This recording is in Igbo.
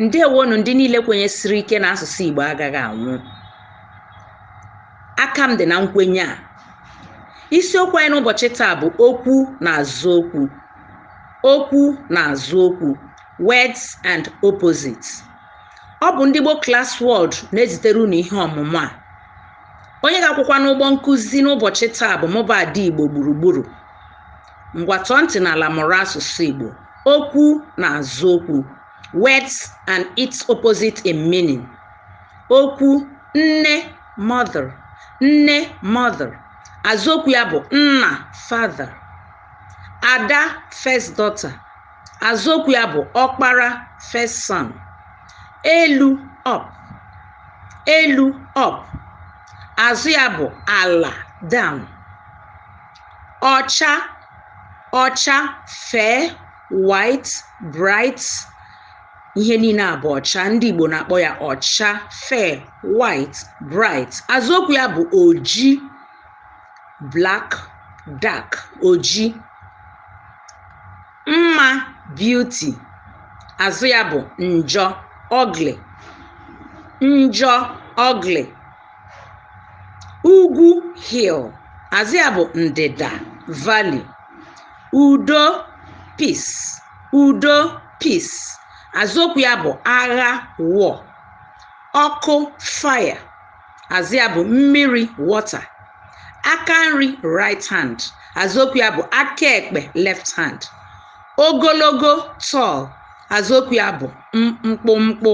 ndewonụ ndị niile kwenyesiri ike na asụsụ Igbo agaghị anwụ aka m dị na nkwenye a isiokwu anyị n'ụbọchị taa bụ okwu na azụ okwu okwu na azụ okwu words and opposites ọ bụ ndị Igbo Class World na-ezitere unu ihe ọmụmụ a onye ga-akwụkwa n'ụgbọ nkụzi n'ụbọchị taa bụ mụ bụ Ada Igbo gburugburu ngwa tọọ ntị n'ala mụrụ asụsụ Igbo okwu na azụ okwu words and its opposite in meaning okwu nne mother nne mother azụ okwu ya bụ nna father ada first daughter azụ okwu ya bụ ọkpara first son elu up elu up azụ ya bụ ala down ọcha ọcha fair white bright ihe niile a bụ ọcha ndị Igbo na-akpọ ya ọcha fair white bright azụokwu ya bụ oji black dark oji mma beauty azụ ya bụ njọ ugly njọ ugly ugwu hill azụ ya bụ ndịda valley udo peace udo peace azụokwu ya bụ agha war ọkụ fire azụ ya bụ mmiri water aka nri right hand azụokwu ya bụ aka ekpe left hand ogologo tall azụokwu ya bụ mkpụmkpụ